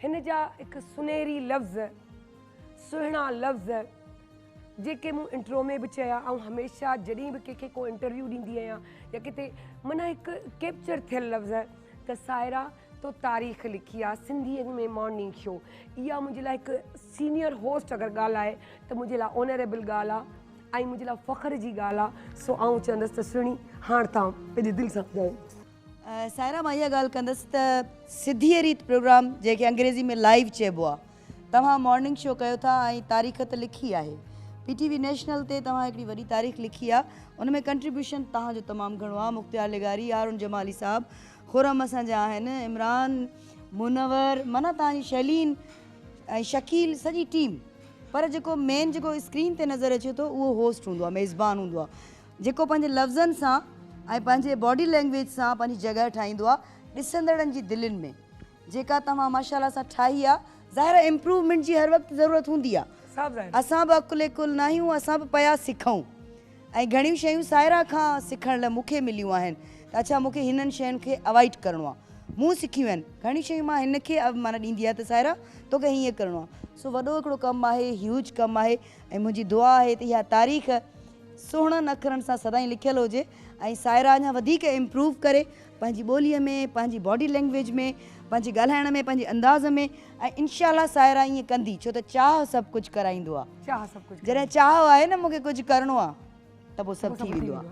هن جا هڪ سنهري لفظ، سهڻا لفظ جيڪي مون انٽرو ۾ به چيا، آئون هميشه جڏهن به ڪنهن کي ڪو انٽرويو ڏيندي آهيان يا ڪٿي معنيٰ هڪ ڪيپچر ٿيل لفظ ته سائره تو تاريخ لکي آ سنڌيء ۾ مارننگ شو اها منهنجي لاء هڪ سينيئر هوسٽ اگر ڳالهائي ته منهنجي لاء اونريبل ڳالهه آ ۽ منهنجي لاء فخر جي ڳالهه آ سو آئون چوندس ته سهڻي هاڻ تان پنهنجي دل سان ٻڌايو. سائره مان اها ڳالهه ڪندس ته سڌيء ريت پروگرام جنهن کي انگريزي ۾ لائيو چئبو آهي توهان مارننگ شو ڪيو ٿا ۽ تاريخ ته لکي آهي پي ٽي وي نيشنل تي توهان هڪڙي وڏي تاريخ لکي آهي ان ۾ ڪنٽريبيوشن توهان جو تمام گهڻو آهي مختيار لغاري هارون جمالي صاحب خرم اسان جا آهن عمران منور معنيٰ توهان جي شيلين ۽ شڪيل سڄي ٽيم پر جيڪو مين جيڪو اسڪرين تي نظر اچي ٿو اهو هوسٽ هوندو آهي ميزبان هوندو آهي جيڪو پنهنجي لفظن سان ۽ پنهنجي باڊي لينگويج سان پنهنجي جڳهه ٺاهيندو آ ڏسندڙن جي دلين ۾ جيڪا توهان ماشاءالله سان ٺاهي آ. ظاهر آ امپروومينٽ جي هر وقت ضرورت هوندي آ اسان به عقل ڪل ناهيون اسان به پيا سکون ۽ گهڻيون شيون سائره کان سکڻ لاء مونکي مليون آهن ته اڇا مونکي هنن شين کي اوائڊ ڪرڻو آ مون سکيون آهن گهڻيون شيون مان هن کي معنيٰ ڏيندي آ ته سائره توکي هيئن ڪرڻو آ سو وڏو هڪڙو ڪم آهي هيوج ڪم آهي ۽ منهنجي دعا آهي ته اها تاريخ سهڻن اکرن سان سدائين لکيل هجي ۽ سائره اڃا وڌيڪ امپروو ڪري پنهنجي ٻوليء ۾ پنهنجي باڊي لينگويج ۾ پنهنجي ڳالهائڻ ۾ پنهنجي انداز ۾ ۽ انشاء الله سائره ائين ڪندي ڇو ته چاهه سڀ ڪجهه ڪرائيندو آهي جڏهن چاهه آهي نه مونکي ڪجهه ڪرڻو آهي ته پوء سڀ ٿي ويندو آهي.